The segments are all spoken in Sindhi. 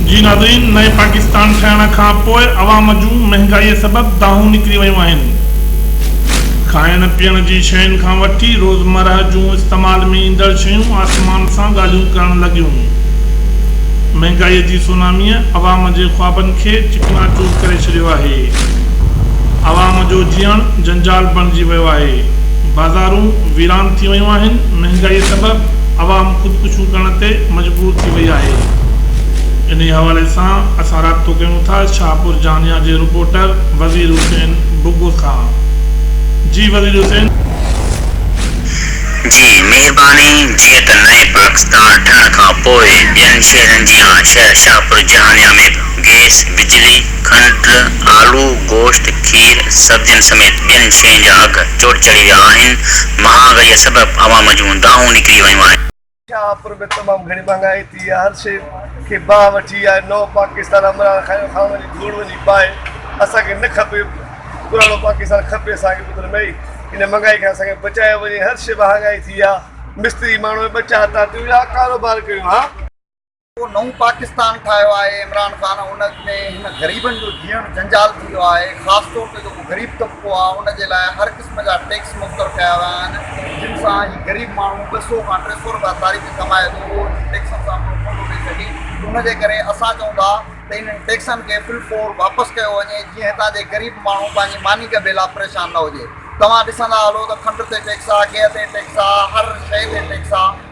جي ناظرين نئين پاڪستان ٺهڻ کان پوء عوام جون مهنگائي سبب دانهون نڪري ويون آهن کائڻ پيئڻ جي شين کان وٺي روزمرهه جون استعمال ۾ ايندڙ شيون آسمان سان ڳالهيون ڪرڻ لڳيون مهنگائي جي سونامي عوام جي خوابن کي چڪنا چور ڪري ڇڏيو آهي عوام جو جيئڻ جنجال بڻجي ويو آهي بازارون ويران ٿي ويون آهن مهنگائي سبب عوام خودڪشيون ڪرڻ تي مجبور ٿي وئي آهي انهي حوالي سان اسان رابطو ڪيون ٿا شاهپور جهانيان جي رپورٽر وزير حسين بگو کان جي وزير حسين. جي مهرباني جيئن ته نئين پاڪستان ٺهڻ کان پوء ٻين شهرن جيان شهر شاهپور جهانيان ۾ به گئس، بجلي، کنڊ، آلو، گوشت، کير، سبزين سميت ٻين شين جا اگهه چوٽ چڙهي ويا آهن، مهانگئي سبب عوام جون دانهون نڪري ويون آهن. شاهپور ۾ تمام گهڻي مهانگائي ٿي آهي، هر شيء کي باهه وٺي آهي، نئون پاڪستان عمران خان کان وڃي ڌوڙ وڃي پائي، اسان کي نه کپي، پراڻو پاڪستان کپي اسان کي ٻڌڻ ۾ ايئي، ان مهانگائي کان اسان کي بچايو وڃي، هر شيء مهانگائي ٿي آهي، مستري ماڻهو ٻه چار تان تي ويا ها ڪاروبار ڪيون ها. ڪو نئون پاڪستان ٺاهيو آهي عمران خان ان ۾ هن غريبن جو جيئڻ جنجال ٿي ويو آهي خاص طور تي جيڪو غريب طبقو آهي ان جي لاء هر قسم جا ٽيڪس مقرر ڪيا ويا آهن جن سان هي غريب ماڻهو ٻه سئو کان ٽي سئو رپيا ساري ۾ ڪمائي ٿو اهو انهن ٽيڪسن سان پورو ڪو ٿو ڏئي سگهي ان جي ڪري اسان چئون ٿا ته انهن ٽيڪسن کي فل فور واپس ڪيو وڃي جيئن هتان جي غريب ماڻهو پنهنجي ماني ڳڀي لاء پريشان نه هجي توهان ڏسندا هلو ته کنڊ تي ٽيڪس آهي گيهه تي ٽيڪس آهي هر شئي تي ٽيڪس آهي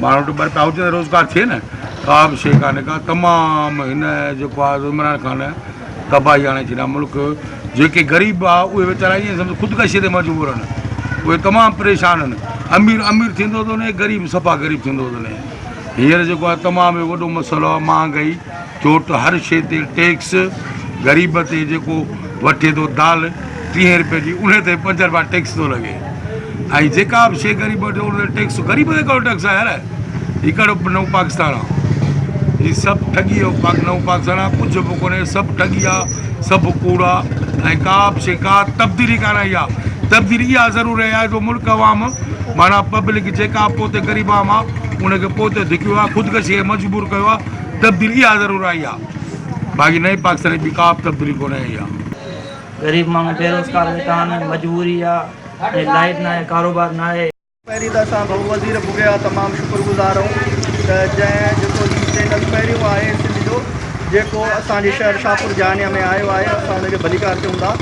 ماڻهن وٽ ٻه پاهوچن ته روزگار ٿئي نه. ڪا به شيء ڪانهي ڪا تمام هن جيڪو آ سو عمران خان تباهي آڻي ڇڏيا ملڪ جيڪي غريب آ اهي ويچارا ائين سمجهه خودڪشي تي مجبور آهن اهي تمام پريشان آهن امير امير ٿيندو ٿو وڃي غريب صفا غريب ٿيندو ٿو وڃي هينئر جيڪو آ تمام وڏو مسئلو آ مهانگائي ڇو ته هر شيء تي ٽيڪس، غريب تي جيڪو وٺي ٿو دال ٽيهين رپئي جي انهي تي پنج رپيا ٽيڪس ٿو لڳي ۽ جيڪا به شيء غريب وٺي انهي تي ٽيڪس غريب تي ڪهڙو ٽيڪس آ يار هي ڪهڙو نئون پاڪستان آ هي سڀ ٺڳي جو پاڪ نئون پاڪستان آ ڪجهه به ڪونهي سڀ ٺڳي آ سڀ ڪوڙ آ ۽ ڪا به شيء ڪا تبديلي ڪانه آئي آ تبديلي اها ضرور آئي آ جو ملڪ عوام معنيٰ پبلڪ جيڪا به پوء تي غريب عوام آ انهي کي پوء تي ڌڪيو آ خودڪشي کي مجبور ڪيو آ تبديلي اها ضرور آئي آ باقي نئين پاڪستان ۾ ٻي ڪا به تبديلي ڪونه آئي آ. غريب ماڻهو بيروزگار ويٺا آهن مجبوري آ ۽ لائيٽ ناهي ڪاروبار ناهي. پهرين ته اسان ڀئو وزير ڀڳي جا تمام شڪر گذار آهيون ته جنهن جيڪو هي چينل پهريون آهي سنڌ جو جيڪو اسان جي شهر شاهپور جهانيان ۾ آيو آهي اسان ان جو ڀليڪار ڪيون ٿا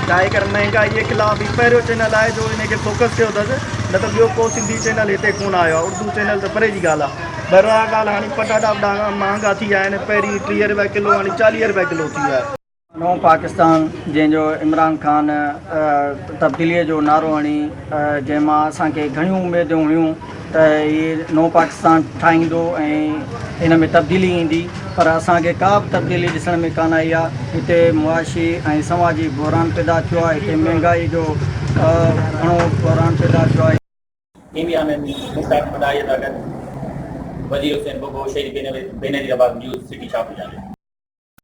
ڇاهي ڪري مهنگائي جي خلاف هي پهريون چينل آهي جو ان کي فوڪس ڪيو اٿس نه ته ٻيو ڪو سنڌي چينل هتي ڪونه آيو آهي اردو چينل ته پري جي ڳالهه آهي. برا ڳالهه هاڻي پٽاٽا به ڏاڍا مهانگا ٿي ويا آهن پهرين ٽيهه روپيا ڪلو هاڻي چاليهه روپيا ڪلو ٿي ويا آهن. نئون پاڪستان جنهن جو عمران خان تبديلي جو نعرو هڻي جنهن مان اسان کي گهڻيون اميدون هيون ته هي نئون پاڪستان ٺاهيندو ۽ ان ۾ تبديلي ايندي پر اسان کي ڪا به تبديلي ڏسڻ ۾ ڪانه آئي آهي هتي معاشي ۽ سماجي بحران پيدا ٿيو آهي هتي مهانگائي جو گهڻو بحران پيدا ٿيو آهي. ڪيميرا مين مشتاق مداريء سان گڏ وزير حسين بگهو، شهيد بينظير عباس، نيوز سٽي شاپور جاني.